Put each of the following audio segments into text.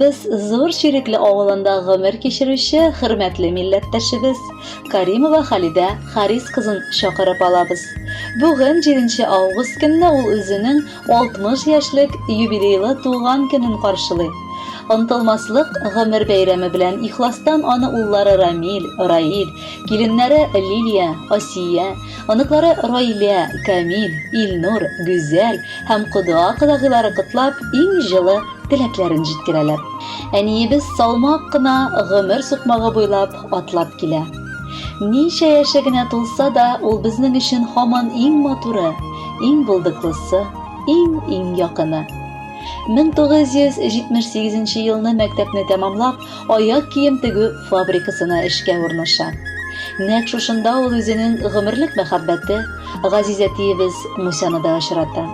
Без Зур Чирекле авылында гомер кичерүче хөрмәтле милләттәшебез Каримова Халидә Харис кызын чакырып алабыз. Бүген 7 август көнне ул үзенең 60 яшьлек юбилейлы туган көнен каршылый. Онтылмаслык гомер бәйрәме белән ихластан аны уллары Рамил, Раил, киленнәре Лилия, Асия, Оныклары Раилә, Камил, Илнур, Гүзәл һәм кода-кодагыйлары котлап, иң җылы теләкләрен җиткерәләр. Әниебез салмак кына гомер сукмагы буйлап атлап килә. Ничә яше генә тулса да, ул безнең өчен һаман иң матуры, иң булдыклысы, иң-иң якыны. 1978 елны мәктәпне тәмамлап, аяк кием тегү фабрикасына эшкә урнаша. Нәкъ шушында ул үзенең гомерлек мәхәббәте Газиз әтиебез Мусяны да очрата.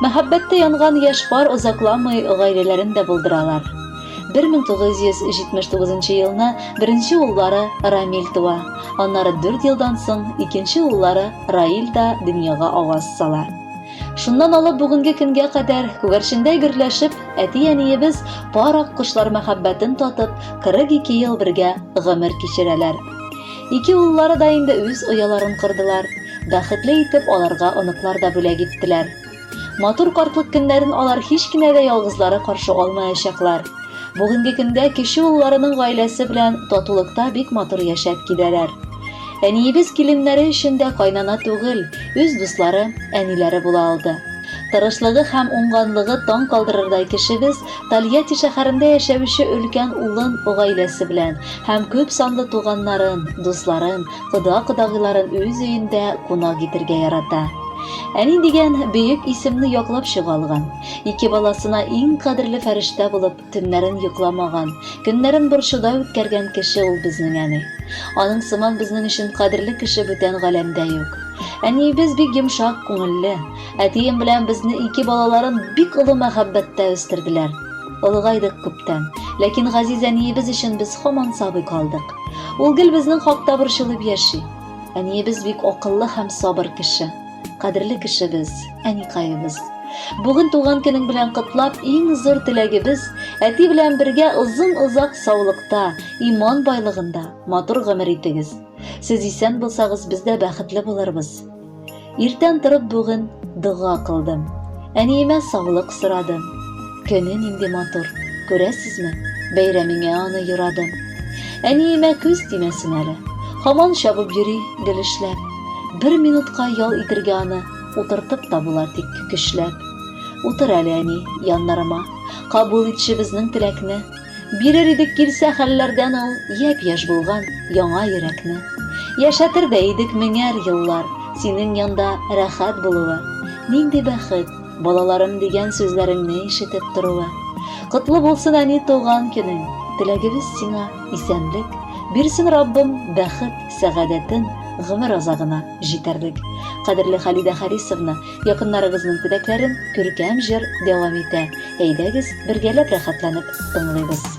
Мәхәббәттә янган яшь пар озакламый гаиләләрен дә булдыралар. 1979 елны беренче уллары Рамил туа, аннары дүрт елдан соң икенче уллары Раил да дөньяга аваз сала. Шуннан алып бүгенге көнгә кадәр күгәрчендәй гөрләшеп, әти-әниебез пар ак кошлар мәхәббәтен татып, 42 ел бергә гомер кичерәләр. Ике уллары да инде үз ояларын кордылар, бәхетле итеп аларга оныклар да бүләк иттеләр. Матур картлык көннәрен алар һич кенә дә ялгызлары каршы алмаячаклар. Бүгенге көндә кече улларының гаиләсе белән татулыкта бик матур яшәп киләләр. Әниебез киленнәре өчен дә кайнана түгел, үз дуслары, әниләре була алды. Тырышлыгы һәм уңганлыгы таң калдырырдай кешебез Тольятти шәһәрендә яшәүче өлкән улын гаиләсе белән һәм күп санлы туганнарын, дусларын, кода-кодагыйларын үз өендә кунак итәргә ярата. Әни дигән бөек исемне яклап чыга алган, ике баласына иң кадерле фәрештә булып, Төннәрен йокламаган, көннәрен борчуда үткәргән кеше ул безнең әни. Аның сыман безнең өчен кадерле кеше бүтән галәмдә юк. Әниебез бик йомшак күңелле. Әтием белән безне ике балаларын бик олы мәхәббәттә үстерделәр. Олыгайдык күптән, ләкин газиз әниебез өчен без һаман сабый калдык. Ул гел безнең хакта борчылып яши. Әниебез бик акыллы һәм сабыр кеше. Кадерле кешебез, әникаебыз. Бүген туган көнең белән котлап, иң зур теләгебез әти белән бергә озын-озак саулыкта, иман байлыгында, матур гомер итегез. Сез исән булсагыз, без дә бәхетле булырбыз. Иртән торып бүген дога кылдым. Әниемә саулык сорадым. Көне нинди матур, күрәсезме? Бәйрәмеңә аны юрадым. Әниемә күз тимәсен әле. Һаман чабып йөри, гел эшләп. Бер минутка ял итергә аны утыртып та була, тик көчләп. Утыр әле, әни, яннарыма. Кабул итче безнең теләкне. Бирер идек килсә хәлләрдән ул япь-яшь булган яңа йөрәкне. Яшәтер дә идек меңәр еллар, синең янда рәхәт булуы. Нинди бәхет! Балаларым дигән сүзләреңне ишетеп торуы. Котлы булсын әни туган көнең. Теләгебез сиңа исәнлек, бирсен Раббым бәхет, сәгадәтен, гомер азагына җитәрлек. Кадерле Халидә Харисовна, якыннарыгызның теләкләрен күркәм җыр дәвам итә. Әйдәгез, бергәләп рәхәтләнеп тыңлыйбыз.